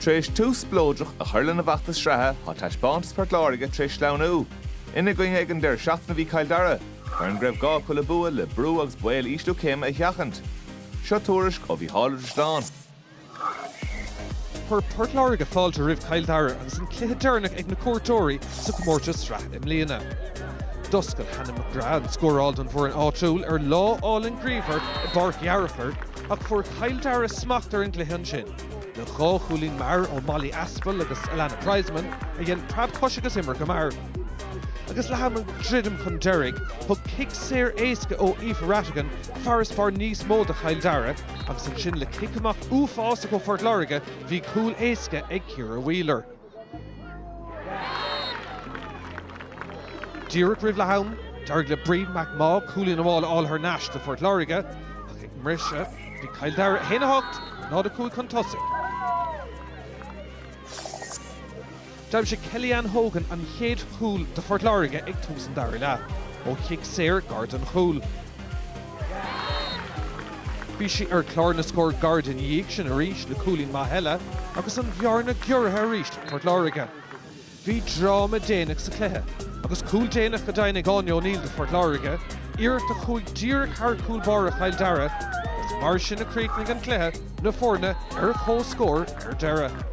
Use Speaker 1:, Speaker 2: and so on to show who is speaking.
Speaker 1: Tar éis tús spleodrach a chur lena bhfeachtas sraithe, tá taispeántas Port Láirge tar éis sleamhnú. Ina gcoinne ag an deireadh seachtaine a bhí Cill Dara, foireann go raibh gá acu le bua le brú agus baol ísliú céime a sheachaint. Seo tuairisc ó Mhícheál Ó Drisleáin.
Speaker 2: Chuir Port Láirge fáilte roimh Chill Dara agus an cluiche deireanach ag na cuairteoirí sa gcomórtas sraithe i mbliana. D'oscail Hannah McGrath an scóráil don bhfoireann áitiúil ar lá álainn grianmhar i bPáirc Uí Fhearchair, Ach fuair Cill Dara smacht ar an gcluiche ansin, le dhá chúilín mear ó Molly Aspell agus Alannah Prizeman, a dhein preab cois agus imir go mear. Agus le ham ag druidim chun deiridh, thug cic saor éasca ó Aoife Rattigan farasbarr níos mó do Chill Dara, agus ansin le cic amach uafásach ó Phort Láirge, bhí cúl éasca ag Ciara Wheeler. Díreach roimh leath-am, d'éirigh le Bríd McMaugh cúilín amháil a fháil thar n-ais do Phort Láirge, ach ag an mbriseadh, bhí Cill Dara 1 8, 0 5 chun tosaigh. D'aimsigh Kellyann Hogan an chéad chúl do Phort Láirge ag tús an dara leath, ó chic saor gar don chúl. Bhí sí ar chlár na scór gairid ina dhiaidh sin arís le cúilín maith eile agus an bhearna giorraithe arís ag Port Láirge. Bhí dráma déanach sa chluiche agus cúl déanach go deimhin ag Áine O'Neill do Phort Láirge, iarracht a chuaigh díreach thar chúl báire Chill Dara agus mar sin a chríochnaigh an cluiche, na foirne ar chomhscór ar deireadh.